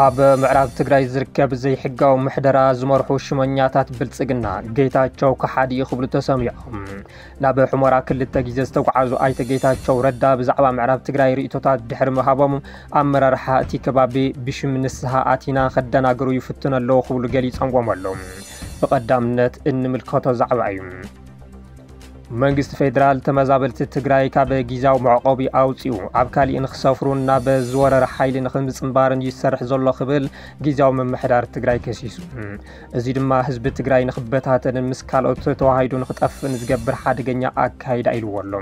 ኣብ ምዕራብ ትግራይ ዝርከብ ዘይሕጋዊ ምሕደራ ዝመርሑ ሽመኛታት ብልፅግና ጌታቸው ከሓዲ እዩ ክብሉ ተሰሚዖም ናብ ሑመራ ክልተ ግዜ ዝተጉዓዙ ኣይተ ጌታቸው ረዳ ብዛዕባ ምዕራብ ትግራይ ርኢቶታት ድሕሪ ምሃቦም ኣመራርሓ እቲ ከባቢ ብሽም ንስሃ ኣቲና ከደናግሩ ይፍትኑ ኣለዉ ክብሉ ገሊፀምዎም ኣለዉ። ብቀዳምነት እንምልከቶ ዛዕባ እዩ። መንግስቲ ፌዴራል ተመዛበልቲ ትግራይ ካብ ጊዜያዊ መዕቆቢ ኣውፂኡ ኣብ ካሊእ ንክሰፍሩን ናብ ዝወረረ ሓይሊ ንክምፅምባርን እዩ ዝሰርሕ ዘሎ ክብል ጊዜያዊ ምምሕዳር ትግራይ ከሲሱ። እዚ ድማ ህዝቢ ትግራይ ንክበታተንን ምስ ካልኦት ተዋሃይዱ ንክጠፍእን ዝገብር ሓደገኛ ኣካይዳ ኢልዎ ኣሎ።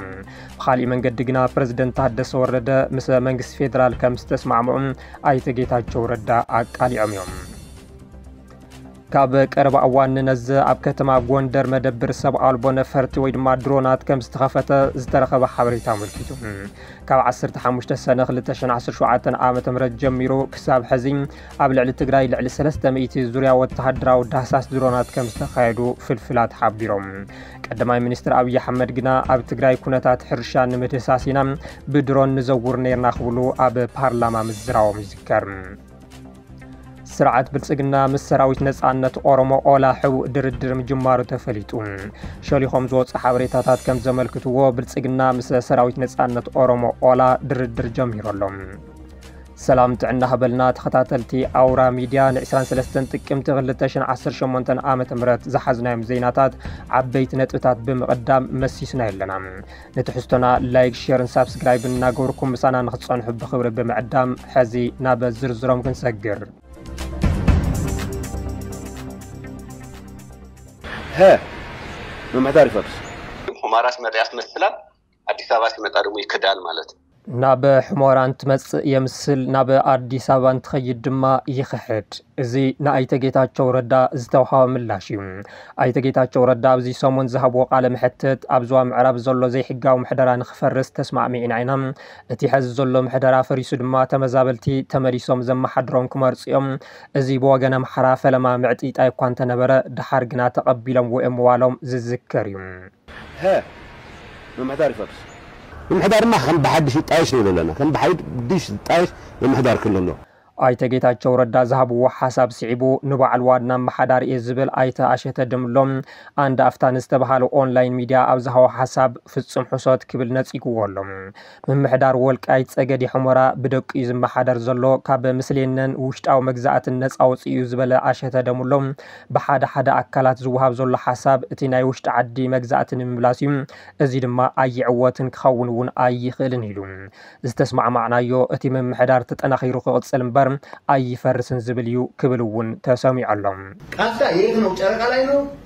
ብኻሊእ መንገዲ ግና ፕረዚደንት ታደሰ ወረደ ምስ መንግስቲ ፌደራል ከምዝተስማዕምዑ ኣይተ ጌታቸው ረዳ ኣቃሊዖም እዮም። ካብ ቀረባ እዋን ንነዘ ኣብ ከተማ ጎንደር መደብር ሰብ ኣልቦ ነፈርቲ ወይ ድማ ድሮናት ከም ዝተኸፈተ ዝተረኸበ ሓበሬታ ኣመልኪቱ ካብ 15 ሰነ 2017 ዓ ም ጀሚሩ ክሳብ ሕዚ ኣብ ልዕሊ ትግራይ ልዕሊ ሰለስተ ሚእቲ ዙርያ ወተሃደራዊ ዳህሳስ ድሮናት ከም ዝተኻየዱ ፍልፍላት ሓቢሮም። ቀዳማይ ሚኒስትር ኣብዪ ኣሕመድ ግና ኣብ ትግራይ ኩነታት ሕርሻ ንምድህሳስ ኢና ብድሮን ንዘውር ነርና ክብሉ ኣብ ፓርላማ ምዝራቦም ይዝከር። ስርዓት ብልጽግና ምስ ሰራዊት ነጻነት ኦሮሞ ኦላ ሕቡእ ድርድር ምጅማሩ ተፈሊጡ። ሸሊኾም ዝወፁ ሓበሬታታት ከም ዘመልክትዎ ብልጽግና ምስ ሰራዊት ነጻነት ኦሮሞ ኦላ ድርድር ጀሚሩ ኣሎ። ሰላም ጥዕና ሃበልና ተኸታተልቲ ኣውራ ሚድያ ን ዕስራን ሰለስተን ጥቅምቲ ክልተ ሽሕን ዓሰርተ ሸሞንተን ዓመተ ምህረት ዝሓዝናዮም ዜናታት ዓበይቲ ነጥብታት ብምቕዳም መሲስና ኣለና ንትሕዝቶና ላይክ ሼርን ሳብስክራይብን እናገበርኩም ምሳና ንክትጸንሑ ብኽብሪ ብምዕዳም ሕዚ ናብ ዝርዝሮም ክንሰግር ሀ ምምሕዳር ይፈርስ። ኹማራስ መጥያስ መስላ ኣዲስ ኣበባ ሲመጻ ድሞ ይክዳል ማለት ናብ ሕሞራ እንትመጽእ የምስል ናብ ኣዲስ ኣበባ እንትኸይድ ድማ ይኽሕድ። እዚ ንኣይተ ጌታቸው ረዳ ዝተውሃበ ምላሽ እዩ። ኣይተ ጌታቸው ረዳ ኣብዚ ሰሙን ዝሃብዎ ቃለ መሕትት ኣብ ዞባ ምዕራብ ዘሎ ዘይሕጋዊ ምሕደራ ንክፈርስ ተስማዕሚዕና ኢና። እቲ ሐዚ ዘሎ ምሕደራ ፈሪሱ ድማ ተመዛበልቲ ተመሊሶም ዘመሓድሮም ክመርፁ እዮም። እዚ ብወገን ኣምሓራ ፈለማ ምዕጥይጣይ እኳ እንተነበረ ደሓር ግና ተቐቢሎምዎ እዮም ምባሎም ዝዝከር እዩ። ሀ ምምሕዳር ይፈርስ። ምምሕዳርማ ከም ብሓድሽ ይጣየሽ ንብል ኣለና። ከም ብሓድሽ ዝጣየሽ ምምሕዳር ክልሎ። ኣይተ ጌታቸው ረዳ ዝሃብዎ ሓሳብ ስዒቡ ንበዓል ዋና ኣመሓዳሪ እየ ዝብል ኣይተ ኣሸተ ደምሎ ኣንድ ኣፍታ ንዝተብሃለ ኦንላይን ሚድያ ኣብ ዝሃቦ ሓሳብ ፍፁም ሕሶት ክብል ነፂግዎ ኣሎ። ምምሕዳር ወልቃይት ፀገዴ ሑመራ ብደቂ'ዩ ዝመሓደር ዘሎ፣ ካብ ምስሌነን ውሽጣዊ መግዛእትን ነፃ ወፂኡ'ዩ ዝበለ ኣሸተ ደምሎ፣ ብሓደ ሓደ ኣካላት ዝወሃብ ዘሎ ሓሳብ እቲ ናይ ውሽጢ ዓዲ መግዛእቲ ንምምላስ'ዩ፣ እዚ ድማ ኣይዕወትን ክኸውን'ውን ኣይኽእልን ኢሉ። ዝተስማዕማዕናዮ እቲ ምምሕዳር ተጠናኺሩ ክቕፅል እምበር ኣይፈርስን ዝብል እዩ ክብል'ውን ተሰሚዑ ኣሎ። ቃፍታ የት ነው ጨረቃ ላይ ነው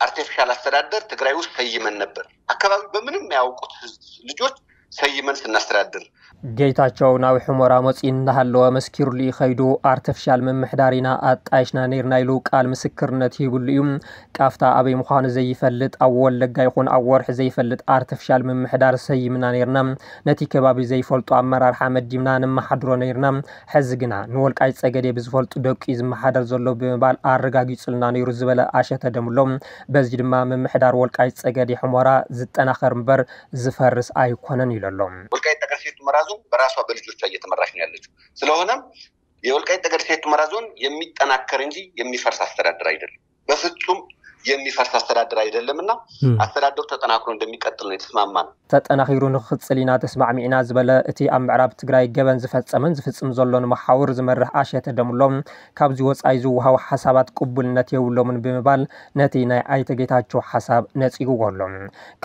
ኣርቴፍሻል ኣስተዳደር ትግራይ ውስጥ ሰይመን ነበር ኣካባቢ በምንም ማያውቁት ህዝብ ልጆች ሰይመን ስናስተዳድር። ጌታቸው ናብ ሑመራ መፂኡ እንዳሃለወ መስኪሩሉ እዩ ከይዱ። ኣርተፍሻል ምምሕዳር ኢና ኣጣይሽና ነይርና ኢሉ ቃል ምስክርነት ሂብሉ እዩ። ቃፍታ ኣበይ ምዃኑ ዘይፈልጥ ኣብ ወለጋ ይኹን ኣብ ወርሒ ዘይፈልጥ ኣርተፍሻል ምምሕዳር ሰይምና ነይርና። ነቲ ከባቢ ዘይፈልጡ ኣመራርሓ መዲብና ንመሓድሮ ነይርና። ሕዚ ግና ንወልቃይት ፀገዴ ብዝፈልጡ ደቁ'ዩ ዝመሓደር ዘሎ ብምባል ኣረጋጊፁልና ነይሩ ዝበለ ኣሸተ ደምሎ፣ በዚ ድማ ምምሕዳር ወልቃይት ፀገዴ ሑመራ ዝጠናኸር እምበር ዝፈርስ ኣይኮነን ኢሉ ኣሎ። ወልቃይት ጠገዴ ሰቲት ሁመራ ዞን በራሷ በልጆቿ እየተመራች ነው ያለችው ስለሆነም የወልቃይት ጠገዴ ሰቲት ሁመራ ዞን የሚጠናከር እንጂ የሚፈርስ አስተዳደር አይደለም። በፍጹም የሚፈርስ አስተዳደር አይደለም እና አስተዳደሩ ተጠናክሮ እንደሚቀጥል ነው የተስማማን። ተጠናኺሩ ንክቕፅል ኢና ተስማዕሚዕና ዝበለ እቲ ኣብ ምዕራብ ትግራይ ገበን ዝፈፀመን ዝፍፅም ዘሎን መሓውር ዝመርሕ ኣሸተ ደምሎ፣ ካብዚ ወፃኢ ዝወሃቡ ሓሳባት ቅቡልነት የብሎምን ብምባል ነቲ ናይ ኣይተ ጌታቸው ሓሳብ ነፂግዎ ኣሎ።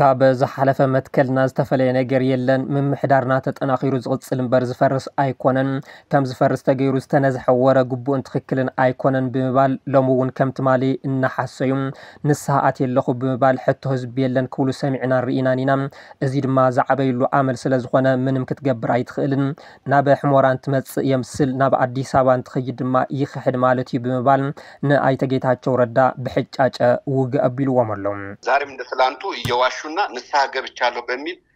ካብ ዝሓለፈ መትከልና ዝተፈለየ ነገር የለን፣ ምምሕዳርና ተጠናኺሩ ዝቕፅል እምበር ዝፈርስ ኣይኮነን፣ ከም ዝፈርስ ተገይሩ ዝተነዝሐ ወረ ግቡእን ትኽክልን ኣይኮነን ብምባል ሎሚ እውን ከም ትማሊ እናሓሰዩ ንስሃ ኣትየ ኣለኹ ብምባል ሕቶ ህዝቢ የለን ክብሉ ሰሚዕናን ርኢናን ኢና። እዚ ድማ ዝዓበይሉ ኣመል ስለ ዝኾነ ምንም ክትገብር ኣይትኽእልን። ናብ ሕሞራ እንትመፅእ የምስል ናብ ኣዲስ ኣበባ እንትኸይድ ድማ ይኽሕድ ማለት እዩ ብምባል ንኣይተ ጌታቸው ረዳ ብሕጫጨ ውግእ ኣቢልዎም ኣሎ። ዛሬም እንደ ትላንቱ እየዋሹና ንስሃ ገብቻለሁ በሚል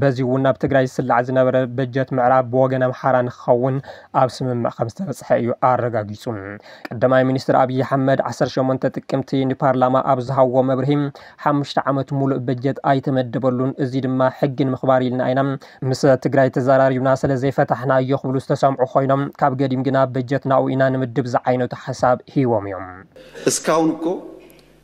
በዚ እውን ናብ ትግራይ ዝስላዕ ዝነበረ በጀት ምዕራብ ብወገን ኣምሓራ ንክኸውን ኣብ ስምምዕ ከምዝተበፅሐ እዩ ኣረጋጊፁ። ቀዳማይ ሚኒስትር ኣብዪ ኣሕመድ ዓሰርተ ሸሞንተ ጥቅምቲ ንፓርላማ ኣብ ዝሃብዎ መብርሂ ሓሙሽተ ዓመት ሙሉእ በጀት ኣይተመደበሉን እዚ ድማ ሕጊ ንምኽባር ኢልና ኢና ምስ ትግራይ ተዘራሪብና ስለዘይፈታሕናዮ ክብሉ ዝተሰምዑ ኮይኖም ካብ ገዲም ግና በጀት ናኡ ኢና ንምድብ ዝዓይነቱ ሓሳብ ሂቦም እዮም። እስካሁን እኮ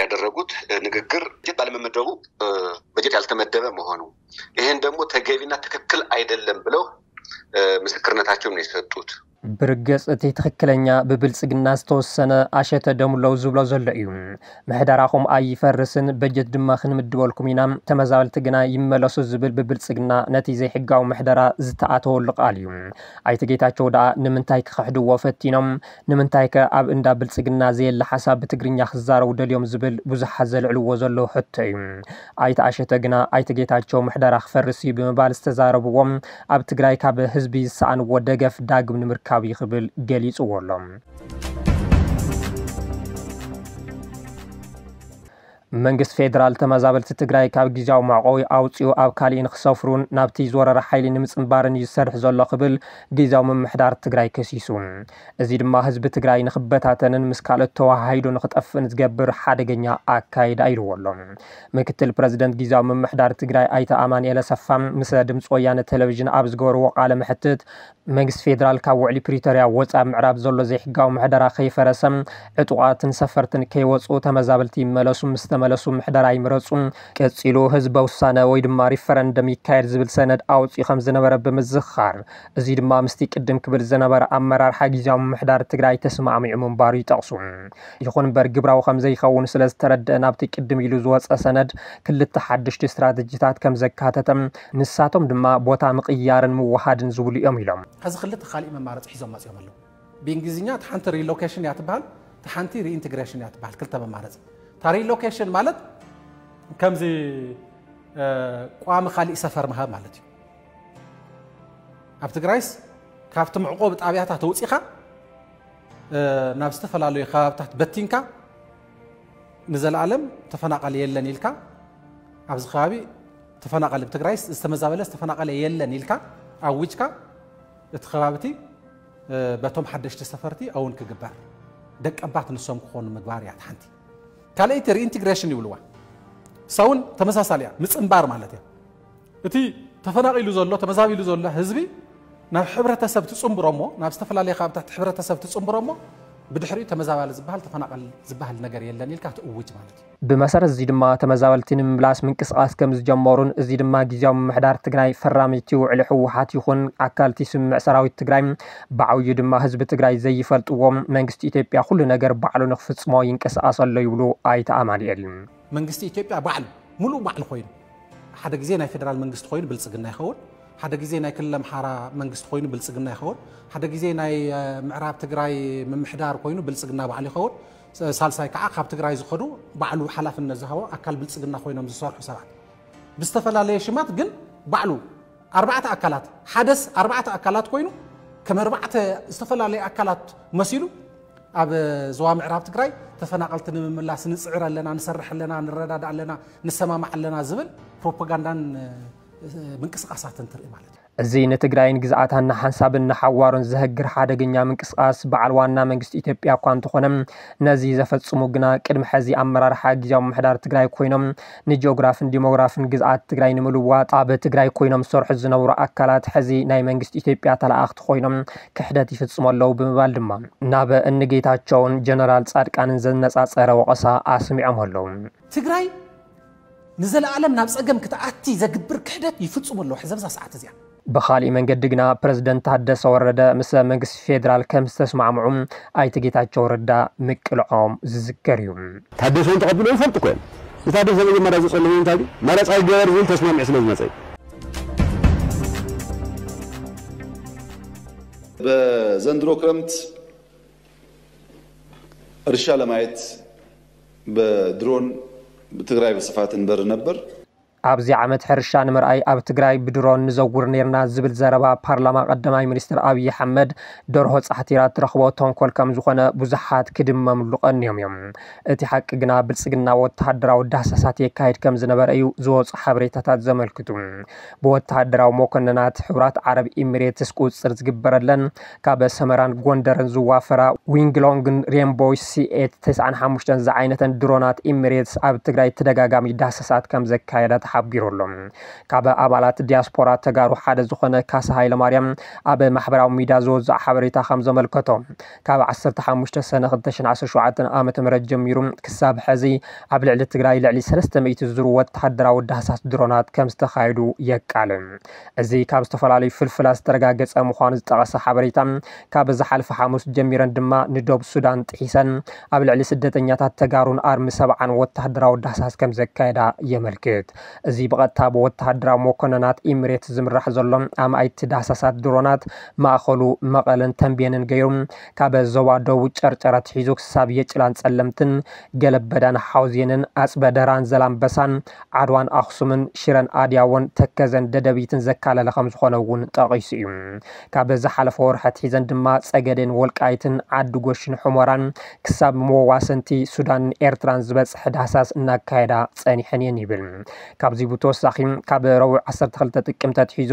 ያደረጉት ንግግር ባለመመደቡ በጀት ያልተመደበ መሆኑ ይህን ደግሞ ተገቢና ትክክል አይደለም ብለው ምስክርነታቸውን ነው የሰጡት። ብርግጽ እቲ ትኽክለኛ ብብልጽግና ዝተወሰነ ኣሸተ ደምለው ዝብሎ ዘሎ እዩ ምሕደራኹም ኣይፈርስን በጀት ድማ ክንምድበልኩም ኢና ተመዛበልቲ ግና ይመለሱ ዝብል ብብልጽግና ነቲ ዘይሕጋዊ ምሕደራ ዝተኣተወሉ ቃል እዩ ኣይተ ጌታቸው ደኣ ንምንታይ ክኽሕድዎ ፈቲኖም ንምንታይከ ኣብ እንዳ ብልጽግና ዘየለ ሓሳብ ብትግርኛ ክዛረቡ ደልዮም ዝብል ብዙሓት ዘልዕልዎ ዘለዉ ሕቶ'ዩ። ኣይተ ኣሸተ ግና ኣይተ ጌታቸው ምሕደራ ክፈርስ'ዩ ብምባል ዝተዛረብዎ ኣብ ትግራይ ካብ ህዝቢ ዝሰኣንዎ ደገፍ ዳግም ንምርካብ'ዩ ክብል ገሊጽዎ'ሎ። መንግስቲ ፌደራል ተመዛበልቲ ትግራይ ካብ ጊዚያዊ መዕቖቢ ኣውፂኡ ኣብ ካሊእ ንክሰፍሩን ናብቲ ዝወረረ ሓይሊ ንምፅንባርን እዩ ዝሰርሕ ዘሎ ክብል ጊዚያዊ ምምሕዳር ትግራይ ከሲሱ። እዚ ድማ ህዝቢ ትግራይ ንክበታተንን ምስ ካልኦት ተወሃሂዱ ንክጠፍእን ዝገብር ሓደገኛ ኣካይዳ ኢልዎ ኣሎ። ምክትል ፕረዚደንት ጊዚያዊ ምምሕዳር ትግራይ ኣይተ ኣማኒኤል ኣሰፋ ምስ ድምፂ ወያነ ቴሌቪዥን ኣብ ዝገበርዎ ቃለ መሕትት መንግስቲ ፌደራል ካብ ውዕሊ ፕሪቶርያ ወፃ ኣብ ምዕራብ ዘሎ ዘይሕጋዊ ምሕደራ ከይፈረሰ፣ ዕጡቓትን ሰፈርትን ከይወፅኡ፣ ተመዛበልቲ ይመለሱ ምስ ተመለሱ ምሕደራ ይምረፁ፣ ቀፂሉ ህዝበ ውሳነ ወይ ድማ ሪፈረንደም ይካየድ ዝብል ሰነድ ኣውፂኡ ከም ዝነበረ ብምዝኽኻር፣ እዙይ ድማ ምስቲ ቅድም ክብል ዝነበረ ኣመራርሓ ጊዚያዊ ምምሕዳር ትግራይ ተስማዕሚዑ ምንባሩ ይጠቕሱ። ይኹን እምበር ግብራዊ ከም ዘይኸውን ስለ ዝተረደአ ናብቲ ቅድም ኢሉ ዝወፀ ሰነድ ክልተ ሓደሽቲ ስትራተጂታት ከም ዘካተተ ንሳቶም ድማ ቦታ ምቕያርን ምውሃድን ዝብሉ እዮም ኢሎም። ሕዚ ክልተ ካሊእ መማረፂ ሒዞም መፂኦም ኣለው። ብእንግሊዝኛ እታ ሓንቲ ሪሎኬሽን እያ ትበሃል እታ ሓንቲ ሪኢንትግሬሽን እያ ትበሃል ክልተ መማረፂ እታ ሪሎኬሽን ማለት ከምዚ ቋሚ ካሊእ ሰፈር ምሃብ ማለት እዩ። ኣብ ትግራይስ ካብቲ መዕቆቢ ጣብያታት ኣውፂኻ ናብ ዝተፈላለዩ ከባብታት በቲንካ ንዘለኣለም ተፈናቃሊ የለን ኢልካ ኣብዚ ከባቢ ተፈናቐሊ ብ ትግራይስ ዝተመዛበለስ ተፈናቐለ የለን ኢልካ ኣዊጅካ እቲ ከባቢቲ በቶም ሓደሽቲ ሰፈርቲ ኣውን ክግበር ደቀባት ንሶም ክኾኑ ምግባር እያ ሓንቲ ካልኣይቲ ሪኢንቴግሬሽን ይብልዋ ሳውን ተመሳሳሊ እያ ምፅንባር ማለት እያ እቲ ተፈናቒሉ ዘሎ ተመዛቢሉ ዘሎ ህዝቢ ናብ ሕብረተሰብ ትፅንብሮ እሞ ናብ ዝተፈላለየ ካብታት ሕብረተሰብ ትፅንብሮ እሞ ብድሕሪኡ ተመዛባሊ ዝበሃል ተፈናቐል ዝበሃል ነገር የለን ኢልካ ትእውጅ ማለት እዩ ብመሰረት እዚ ድማ ተመዛበልቲ ንምምላስ ምንቅስቓስ ከምዝጀመሩን እዚ ድማ ጊዚያዊ ምምሕዳር ትግራይ ፈራሚ እቲ ውዕሊ ህወሓት ይኹን ኣካል እቲ ስምምዕ ሰራዊት ትግራይ ብዓብዩ ድማ ህዝቢ ትግራይ ዘይፈልጥዎ መንግስቲ ኢትዮጵያ ኩሉ ነገር ባዕሉ ንክፍፅሞ ይንቀሳቐስ ኣሎ ይብሉ ኣይተ ኣማኒኤል። መንግስቲ ኢትዮጵያ ባዕሉ ሙሉእ ባዕሉ ኮይኑ ሓደ ጊዜ ናይ ፌደራል መንግስቲ ኮይኑ ብልፅግና ይኸውን፣ ሓደ ጊዜ ናይ ክልል ኣምሓራ መንግስቲ ኮይኑ ብልፅግና ይኸውን፣ ሓደ ጊዜ ናይ ምዕራብ ትግራይ ምምሕዳር ኮይኑ ብልፅግና ባዕሉ ይኸውን፣ ሳልሳይ ከዓ ካብ ትግራይ ዝኸዱ ባዕሉ ሓላፍነት ዝሃቦ ኣካል ብልፅግና ኮይኖም ዝሰርሑ ሰባት ብዝተፈላለየ ሽማት ግን ባዕሉ ኣርባዕተ ኣካላት ሓደስ ኣርባዕተ ኣካላት ኮይኑ ከም ኣርባዕተ ዝተፈላለዩ ኣካላት መሲሉ ኣብ ዞባ ምዕራብ ትግራይ ተፈናቐልቲ ንምምላስ ንፅዕር ኣለና ንሰርሕ ኣለና ንረዳዳእ ኣለና ንሰማማዕ ኣለና ዝብል ፕሮፓጋንዳን ምንቅስቃሳትን ትርኢ ማለት እዩ እዚ ንትግራይን ግዝኣታን ንሓንሳብን ንሓዋሩን ዘሀግር ሓደገኛ ምንቅስቓስ በዓል ዋና መንግስቲ ኢትዮጵያ እኳ እንተኾነ ነዚ ዘፈፅሙ ግና ቅድሚ ሐዚ ኣመራርሓ ግዝያዊ ምምሕዳር ትግራይ ኮይኖም ንጂኦግራፍን ዲሞግራፍን ግዝኣት ትግራይ ንምልዋጥ ኣብ ትግራይ ኮይኖም ዝሰርሑ ዝነበሩ ኣካላት ሐዚ ናይ መንግስቲ ኢትዮጵያ ተለኣኣኽቲ ኮይኖም ክሕደት ይፍፅሙ ኣለው ብምባል ድማ ናብ እኒ ጌታቸውን ጀነራል ፃድቃንን ዘነፃፀረ ወቐሳ ኣስሚዖም ኣለው። ትግራይ ንዘለኣለም ናብ ጸገም ክትኣቲ ዘግብር ክሕደት ይፍጽሙ ኣለዉ ሕዚ ኣብዛ ሰዓት እዚኣ። ብኻሊእ መንገዲ ግና ፕረዚደንት ታደሰ ወረደ ምስ መንግስቲ ፌደራል ከምዝተስማዕምዑ ኣይተ ጌታቸው ረዳ ምቅልዖም ዝዝከር እዩ። ታደሰ እውን ተቐቢሎም ይፈልጡ እኮ እዮም። ንታደሰ መጀመርያ ዘፀለመዎ እንታይ ድዩ? መረፃ ይገበር ዝብል ተስማሚዑ ስለዝመፀ እዩ። በዘንድሮ ክረምት እርሻ ለማየት በድሮን ብትግራይ ብስፋት እንበሪ ነበር። ኣብዚ ዓመት ሕርሻ ንምርኣይ ኣብ ትግራይ ብድሮን ንዘውር ነይርና ዝብል ዘረባ ፓርላማ ቀዳማይ ሚኒስትር ኣብይ ኣሕመድ ደርሆ ፃሕቲራ እትረኽቦ ተንኮል ከምዝኾነ ብዙሓት ክድመምሉ ቀንዮም እዮም። እቲ ሓቂ ግና ብልፅግና ወታሃደራዊ ዳህሳሳት የካይድ ከምዝነበረ እዩ ዝወፁ ሓበሬታታት ዘመልክቱ። ብወተሃደራዊ መኮነናት ሕቡራት ዓረብ ኢሚሬትስ ቁፅፅር ዝግበረለን ካብ ሰመራን ጎንደርን ዝዋፈራ ዊንግሎንግን ሬንቦይ ሲኤት ተስዓን ሓሙሽተን ዝዓይነተን ድሮናት ኢሚሬትስ ኣብ ትግራይ ተደጋጋሚ ዳህሰሳት ከምዘካየዳ ተሓቢሩ ኣሎ። ካብ ኣባላት ዲያስፖራ ተጋሩ ሓደ ዝኾነ ካሳ ሃይለማርያም ኣብ ማሕበራዊ ሚድያ ዘወዘዖ ሓበሬታ ከምዘመልከቶ ካብ ዓሰርተ ሓሙሽተ ሰነ ክልተ ሽሕን ዓሰርተ ሸውዓተን ዓመተ ምህረት ጀሚሩ ክሳብ ሐዚ ኣብ ልዕሊ ትግራይ ልዕሊ ሰለስተ ሚእቲ ዝዝሩ ወተሃደራዊ ዳህሳስ ድሮናት ከምዝተኻየዱ የቃልዕ። እዚ ካብ ዝተፈላለዩ ፍልፍላት ዝተረጋገፀ ምዃኑ ዝጠቐሰ ሓበሬታ ካብ ዝሓለፈ ሓሙስ ጀሚረን ድማ ንዶብ ሱዳን ጥሒሰን ኣብ ልዕሊ ስደተኛታት ተጋሩን ኣርሚ ሰብዓን ወተሃደራዊ ዳህሳስ ከምዘካየዳ የመልክት። እዚ ብቐጥታ ብወተሃደራዊ መኮነናት ኢምሬት ዝምራሕ ዘሎ ኣማኢት ዳህሳሳት ድሮናት ማእኸሉ መቐለን ተምቤንን ገይሩ ካብ ዞባ ደቡብ ጨርጨር ኣትሒዙ ክሳብ የጭላን ፀለምትን፣ ገለበዳን ሓውዜንን፣ ኣፅበ ደራን ዘላምበሳን፣ ዓድዋን ኣኽሱምን፣ ሽረን ኣድያዎን፣ ተከዘን ደደቢትን ዘካለለ ከምዝኾነ እውን ጠቒሱ እዩ። ካብ ዝሓለፈ ወርሒ ኣትሒዘን ድማ ፀገዴን ወልቃይትን፣ ዓዲ ጎሽን ሑመራን ክሳብ መዋሰንቲ ሱዳንን ኤርትራን ዝበጽሕ ዳህሳስ እናካየዳ ጸኒሐን እየን ይብል። ካብዚ ብተወሳኺ ካብ ረቡዕ ዓሰርተ ክልተ ጥቅምቲ ኣትሒዙ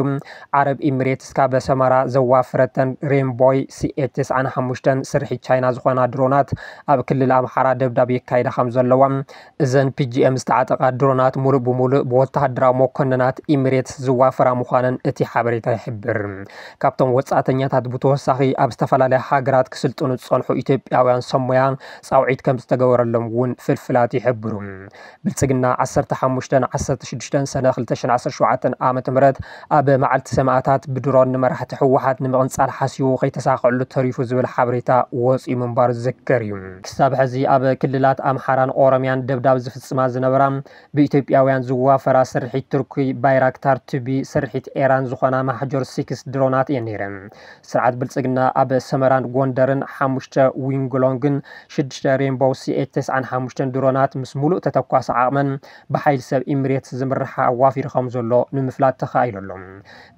ዓረብ ኢሚሬትስ ካብ ሰመራ ዘዋፈረተን ሬንቦይ ሲኤ ተስዓን ሓሙሽተን ስርሒት ቻይና ዝኾና ድሮናት ኣብ ክልል ኣምሓራ ደብዳብ የካይዳ ከምዘለዋ እዘን ፒጂኤም ዝተዓጠቓ ድሮናት ሙሉእ ብሙሉእ ብወተሃደራዊ መኮንናት ኢሚሬትስ ዝዋፈራ ምዃነን እቲ ሓበሬታ ይሕብር። ካብቶም ወጻእተኛታት ብተወሳኺ ኣብ ዝተፈላለያ ሃገራት ክስልጥኑ ዝጸንሑ ኢትዮጵያውያን ሰብ ሞያ ጻውዒት ከምዝተገበረሎም እውን ፍልፍላት ይሕብሩ። ብልጽግና ዓሰርተ ሓሙሽተን ዓሰርተ ሽዱሽተን ሰነ ክልተ ሽሕን ዓሰርተ ሸውዓተን ዓ.ም ኣብ መዓልቲ ሰማእታት ብድሮን ንመራሕቲ ህወሓት ንምቕንጻል ሓሲቡ ከይተሳኸዐሉ ተሪፉ ዝብል ሓበሬታ ወጺኡ ምንባሩ ዝዝከር እዩ። ክሳብ ሕዚ ኣብ ክልላት ኣምሓራን ኦሮምያን ደብዳብ ዝፍጽማ ዝነበራ ብኢትዮጵያውያን ዝዋፈራ ስርሒት ቱርኪ ባይራክታር ቱቢ ስርሒት ኤራን ዝኾና ማሕጆር ሲክስ ድሮናት እየን ነይረን። ስርዓት ብልጽግና ኣብ ሰመራን ጎንደርን ሓሙሽተ ዊንግሎንግን ሽዱሽተ ሬንቦው ሲኤች ተስዓን ሓሙሽተን ድሮናት ምስ ሙሉእ ተተኳሲ ዓቕመን ብሓይሊ ሰብ ኢምሬትስ ዝምርሓ ኣዋፊሩ ከምዘሎ ንምፍላጥ ተኻኢሉ ኣሎ።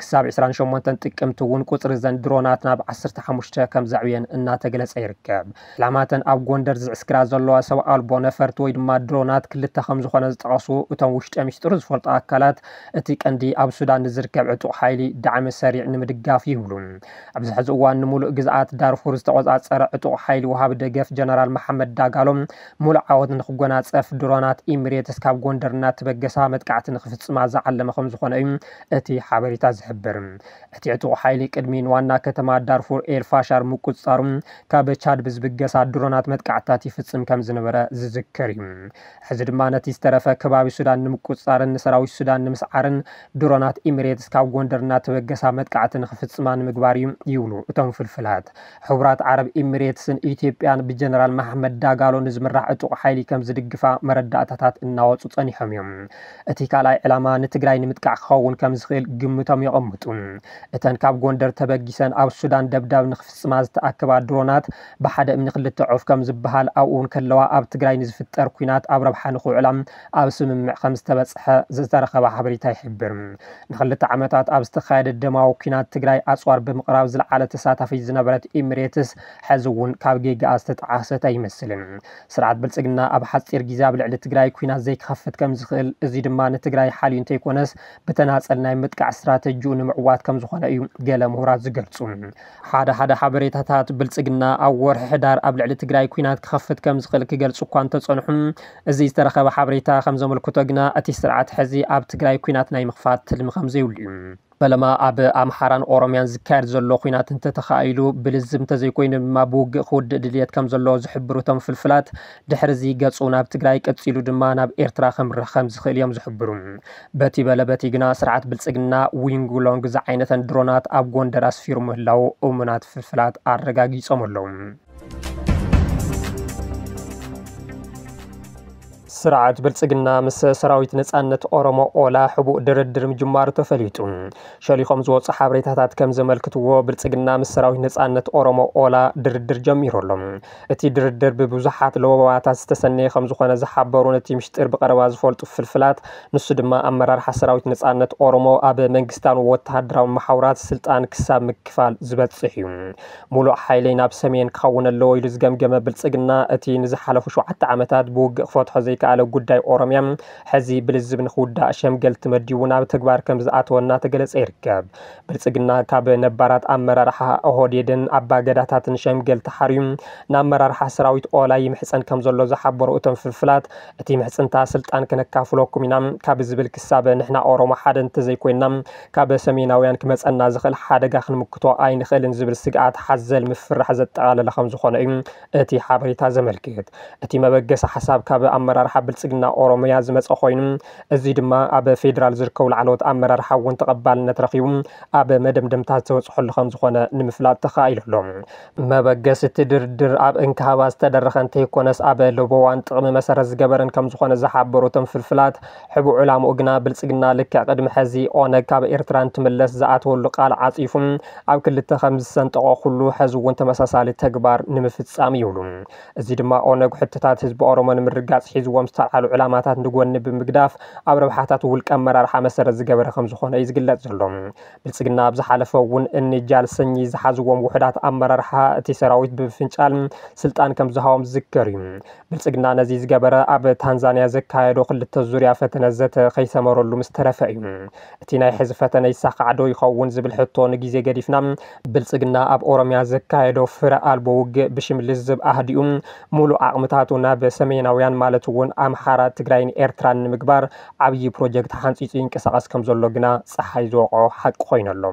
ክሳብ ዕስራን ሸሞንተን ጥቅምቲ እውን ቁፅሪ እዘን ድሮናት ናብ ዓሰርተ ሓሙሽተ ከምዘዕብየን እናተገለፀ ይርከብ። ዕላማ እተን ኣብ ጎንደር ዝዕስክራ ዘለዋ ሰብ ኣልቦ ነፈርቲ ወይ ድማ ድሮናት ክልተ ከምዝኾነ ዝጠቐሱ እቶም ውሽጠ ሚስጥሩ ዝፈልጡ ኣካላት እቲ ቀንዲ ኣብ ሱዳን ንዝርከብ ዕጡቕ ሓይሊ ዳዕመ ሰሪዕ ንምድጋፍ እዩ ይብሉ። ኣብዚ ሕዚ እዋን ንሙሉእ ግዝኣት ዳርፉር ዝተቖፃፀረ ዕጡቕ ሓይሊ ወሃቢ ደገፍ ጀነራል መሓመድ ዳጋሎ ሙሉእ ዓወት ንኽጎናፀፍ ድሮናት ኢሚሬትስ ካብ ጎንደር እናተበገሳ መጥቃዕቲ ንኽፍፅማ ዝዓለመ ከምዝኾነ እዩ እቲ ሓበሬታ ዝሕብር። እቲ ዕጡቕ ሓይሊ ቅድሚ ንዋና ከተማ ዳርፉር ኤል ፋሻር ምቁፅፃሩ ካብ ቻድ ብዝብገሳ ድሮናት መጥቃዕትታት ይፍፅም ከምዝነበረ ዝዝከር እዩ። ሕዚ ድማ ነቲ ዝተረፈ ከባቢ ሱዳን ንምቁፅፃርን ንሰራዊት ሱዳን ንምስዓርን ድሮናት ኢሚሬትስ ካብ ጎንደር እናተበገሳ መጥቃዕቲ ንኽፍፅማ ንምግባር እዩ ይብሉ እቶም ፍልፍላት። ሕቡራት ዓረብ ኢሚሬትስን ኢትዮጵያን ብጀነራል መሓመድ ዳጋሎ ንዝምራሕ ዕጡቕ ሓይሊ ከም ዝድግፋ መረዳእታታት እናወጹ ጸኒሖም እዮም። እቲ ካልኣይ ዕላማ ንትግራይ ንምጥቃዕ ክኸውን ከም ዝኽእል ግምቶም የቐምጡ። እተን ካብ ጎንደር ተበጊሰን ኣብ ሱዳን ደብዳብ ንኽፍጽማ ዝተኣከባ ድሮናት ብሓደ እምኒ ክልተ ዑፍ ከም ዝበሃል ኣብኡ እንከለዋ ኣብ ትግራይ ንዝፍጠር ኲናት ኣብ ረብሓ ንኽውዕላ ኣብ ስምምዕ ከምዝተበፅሐ ዝተረኸበ ሓበሬታ ይሕብር። ንክልተ ዓመታት ኣብ ዝተኻየደ ደማዊ ኲናት ትግራይ ኣፅዋር ብምቕራብ ዝለዓለ ተሳታፊት ዝነበረት ኢሚሬትስ ሕዚ እውን ካብ ጌጋኣ ዝተጠዓሰት ኣይመስልን። ስርዓት ብልፅግና ኣብ ሓፂር ግዜ ኣብ ልዕሊ ትግራይ ኲናት ዘይክኸፍት ከምዝኽእል እዙይ ድማ ንትግራይ ሓልዩ እንተይኮነስ ብተናፀል ናይ ምጥቃዕ ስትራተጂኡ ንምዕዋት ከምዝኾነ እዩ ገለ ምሁራት ዝገልፁ። ሓደ ሓደ ሓበሬታታት ብልፅግና ኣብ ወርሒ ሕዳር ኣብ ልዕሊ ትግራይ ኲናት ክኸፍት ከምዝኽእል ክገልፁ እኳ እንተፀንሑ እዚ ዝተረኸበ ሓበሬታ ከምዘመልክቶ ግና እቲ ስርዓት ሕዚ ኣብ ትግራይ ኲናት ናይ ምኽፋት ትልሚ ከምዘይብሉ እዩ። ፈለማ ኣብ ኣምሓራን ኦሮምያን ዝካየድ ዘሎ ኲናት እንተተኻኢሉ ብልዝብ እንተዘይኮይኑ ድማ ብውግእ ክውድእ ድልየት ከምዘሎ ዝሕብሩ እቶም ፍልፍላት ድሕሪ እዚ ገፁ ናብ ትግራይ ቀፂሉ ድማ ናብ ኤርትራ ከምርሕ ከምዝኽእል እዮም ዝሕብሩ። በቲ በለ በቲ ግና ስርዓት ብልፅግና ዊንግ ሎንግ ዝዓይነተን ድሮናት ኣብ ጎንደር ኣስፊሩ ምህላዉ እሙናት ፍልፍላት ኣረጋጊፆም ኣለዉ። ስርዓት ብልፅግና ምስ ሰራዊት ነፃነት ኦሮሞ ኦላ ሕቡእ ድርድር ምጅማሩ ተፈሊጡ። ሸሊኾም ዝወፁ ሓበሬታታት ከም ዘመልክትዎ ብልፅግና ምስ ሰራዊት ነፃነት ኦሮሞ ኦላ ድርድር ጀሚሩ ኣሎ። እቲ ድርድር ብብዙሓት ለበዋታት ዝተሰነየ ከምዝኾነ ዝሓበሩ ነቲ ምሽጢር ብቐረባ ዝፈልጡ ፍልፍላት፣ ንሱ ድማ ኣመራርሓ ሰራዊት ነጻነት ኦሮሞ ኣብ መንግስታውን ወተሃደራውን መሓውራት ስልጣን ክሳብ ምክፋል ዝበጽሕ እዩ። ሙሉእ ሓይለይ ናብ ሰሜን ክኸውን ኣለዎ ኢሉ ዝገምገመ ብልጽግና፣ እቲ ንዝሓለፉ ሸውዓተ ዓመታት ብውግእ ክፈትሖ ዘይከኣለ ጉዳይ ኦሮሚያ ሕዚ ብልዝብ ንክውዳእ ሸምገልቲ መዲቡ ናብ ተግባር ከምዝኣተወ እናተገለጸ ይርከብ። ብልፅግና ካብ ነባራት ኣመራርሓ ኦህዴድን ኣባ ገዳታትን ሸምገል ተሓርዩ ንኣመራርሓ ሰራዊት ኦላ ይምሕፀን ከምዘሎ ዝሓበሩ እቶም ፍልፍላት እቲ ምሕፅንታ ስልጣን ክነካፍለኩም ኢና ካብ ዝብል ክሳብ ንሕና ኦሮሞ ሓደ እንተዘይኮይንና ካብ ሰሜናውያን ክመፀና ዝኽእል ሓደጋ ክንምክቶ ኣይንኽእልን ዝብል ስግኣት ሓዘል ምፍርራሕ ዘጠቓለለ ከምዝኾነ እዩ እቲ ሓበሬታ ዘመልክት። እቲ መበገሲ ሓሳብ ካብ ኣመራርሓ ብልፅግና ኦሮሚያ ዝመፀ ኮይኑ እዙይ ድማ ኣብ ፌዴራል ዝርከቡ ላዕለዎት ኣመራርሓ እውን ተቐባልነት ረኺቡ ኣብ መደምደምታ ዝተበፅሐሉ ከምዝኾነ ንምፍላጥ ተኻኢሉ ኣሎ። መበገሲ እቲ ድርድር ኣብ እንካ ሃባ ዝተደረኸ እንተይኮነስ ኣብ ለበዋን ጥቕሚ መሰረት ዝገበረን ከምዝኾነ ዝሓበሩ እቶም ፍልፍላት፣ ሕቡእ ዕላምኡ ግና ብልጽግና ልክዕ ቅድሚ ሐዚ ኦነግ ካብ ኤርትራ እንትምለስ ዝኣተወሉ ቃል ዓጺፉ ኣብ ክልተ ከምዝሰንጠቖ ኩሉ ሐዚ እውን ተመሳሳሊ ተግባር ንምፍጻም ይብሉ። እዚ ድማ ኦነግ ሕቶታት ህዝቢ ኦሮሞ ንምርጋጽ ሒዝዎም ዝተልዓሉ ዕላማታት ንጎኒ ብምግዳፍ ኣብ ረብሓታት ውልቀ ኣመራርሓ መሰረት ዝገበረ ከምዝኾነ እዩ ዝግለጽ ዘሎ። ብልፅግና ኣብ ዝሓለፈ እውን እኒ ጃል ሰኚ ዝሓዝዎም ውሑዳት ኣመራርሓ እቲ ሰራዊት ብምፍንጫል ስልጣን ከምዝሃቦም ዝዝከር እዩ። ብልፅግና ነዚ ዝገበረ ኣብ ታንዛንያ ዘካየዶ ክልተ ዙርያ ፈተነ ዘተ ከይሰመረሉ ምስተረፈ እዩ። እቲ ናይ ሕዚ ፈተነ ይሳኻዕ ዶ ይኸውን ዝብል ሕቶ ንጊዜ ገዲፍና፣ ብልፅግና ኣብ ኦሮሚያ ዘካየዶ ፍረ ኣልቦ ውግእ ብሽም ልዝብ ኣህዲኡ ሙሉእ ዓቕምታቱ ናብ ሰሜናውያን ማለት እውን ኣምሓራ፣ ትግራይን ኤርትራን ንምግባር ዓብዪ ፕሮጀክት ሓንፂፁ ይንቀሳቐስ ከም ዘሎ ግና ፀሓይ ዝወቕዖ ሓቂ ኮይኑ ኣሎ።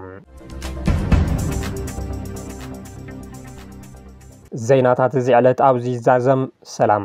ዜናታት እዚ ዕለት ኣብዚ ይዛዘም። ሰላም።